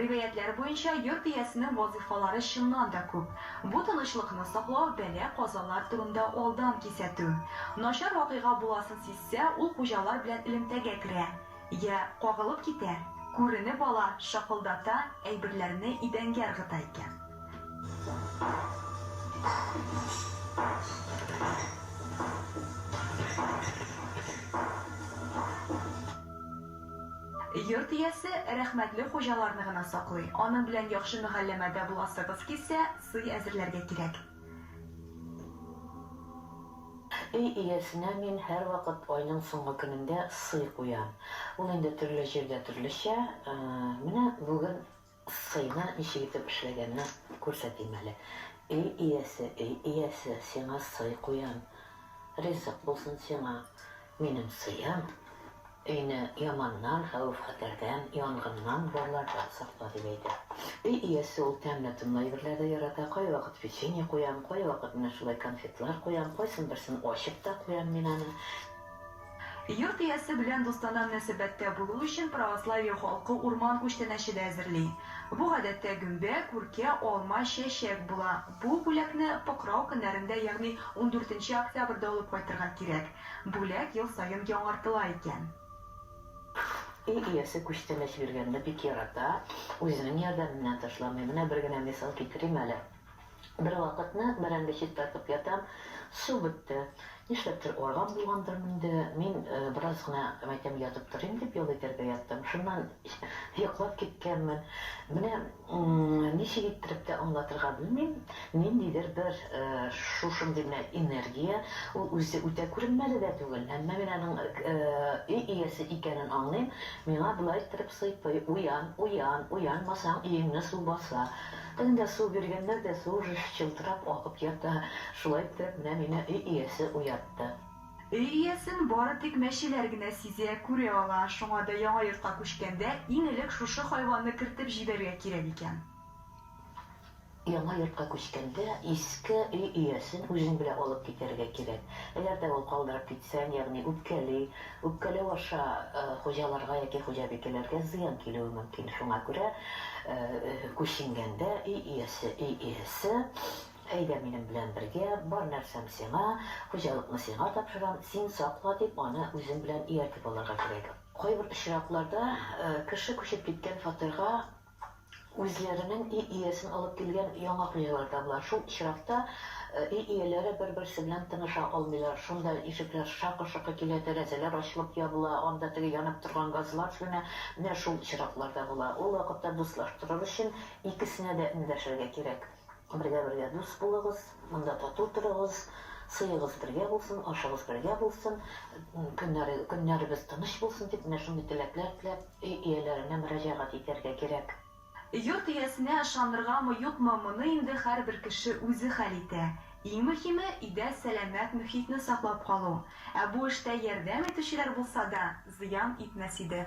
Риваятьләр буенча, йорт иясенең вазыйфалары чыннан да күп. Бу тынычлыкны саклау, бәла-казалар турында алдан кисәтү. Начар вакыйга буласын сизсә, ул хуҗалар белән элемтәгә керә. Йә кагылып китә, күренеп ала, шакылдата, әйберләрне идәнгә ыргыта икән. Йорт иясе рәхмәтле хуҗаларны гына саклый. Аның белән яхшы мөгәлләмәдә буласыгыз килсә, сый әзерләргә кирәк. Өй иясенә мин һәрвакыт айның соңгы көнендә сый куям. Ул инде төрле җирдә төрлечә. Менә бүген Сыйны ничек итеп эшләгәнне күрсәтим әле. Өй иясе, өй иясе, сиңа сый куям. Ризык булсын сиңа минем сыем. Өйне яманнан, хәвеф-хәтәрдән, янгыннан, барлардан сакла, дип әйтә. Өй иясе ул тәмле-томлы әйберләр дә ярата. Кайвакыт печенье куям, кайвакыт менә шулай конфетлар куям, кайсын берсен ачып та куям мин аны. Йорт иясе белән дустанә мөнәсәбәттә булу өчен православие халкы урман күчтәнәче дә әзерли. Бу гадәттә гөмбә, күркә, алма, чәчәк була. Бу бүләкне Покрау көннәрендә, ягъни ундүртенче октябрьдә алып кайтырга кирәк. Бүләк ел саен яңартыла икән. Өй иясе күчтәнәч биргәнне бик ярата, үзенең ярдәменнән ташламый. Менә бер генә мисал китерим әле. Бервакытны бәрәңге чистартып ятам, су бетте. Нишләптер арган булгандырмы инде, мин бераз гына мәйтәм ятып торыйм дип ял итәргә яттым. Шуннан йоклап киткәнмен. Менә ничек иттереп тә аңлатырга белмим, ниндидер бер шушындый менә энергия, ул үзе үтә күренмәле дә түгел, әмма мин аның өй иясе икәнен аңлыйм, миңа болай иттереп сыйпый, Уян, уян, уянмасаң өеңне су баса. Тагын да су биргәннәр дә су уже чылтырап акып ята. Шулай иттереп менә мине өй иясе уятты. Өй иясен бары тик мәчеләр генә сизә, күрә ала. Шуңа да яңа йортка күчкәндә иң элек шушы хайванны кертеп җибәрергә кирәк икән. Яңа йортка күчкәндә иске өй иясен үзең белән алып китәргә кирәк. Әгәр дә ул калдырып китсәң, ягъни үпкәли, Үпкәләү аша хуҗаларга яки хуҗабикәләргә зыян килүе мөмкин. Шуңа күрә күченгәндә өй иясе, өй иһесе, Әйдә минем белән бергә, бар нәрсәм сиңа, хуҗалыкны сиңа тапшырам, син сакла, дип аны үзең белән ияртеп алырга кирәк. Кайбер очракларда кеше күчеп киткән фатирга Үзләренең өй иясен алып килгән яңа хуҗалар табыла. Шул очракта өй ияләре бер-берсе белән тыныша алмыйлар. Шунда ишекләр шакы-шокы килә, тәрәзәләр ачылып-ябыла, анда теге янып торган газлар сүнә. Менә шул очраклар да була. Ул вакытта дуслаштырыр өчен икесенә дә эндәшергә кирәк. Бергә-бергә дус булыгыз, монда тату торыгыз, сыегыз бергә булсын, ашыгыз бергә булсын, көннәрегез тыныч булсын дип, менә шундый теләкләр теләп, өй ияләренә мөрәҗәгать итәргә кирәк. Йорт иясенә ышаныргамы, юкмы, моны инде һәрбер кеше үзе хәл итә. Иң мөһиме, өйдә сәламәт мөхитне саклап калу. Ә бу эштә ярдәм итүчеләр булса да, зыян итмәс иде.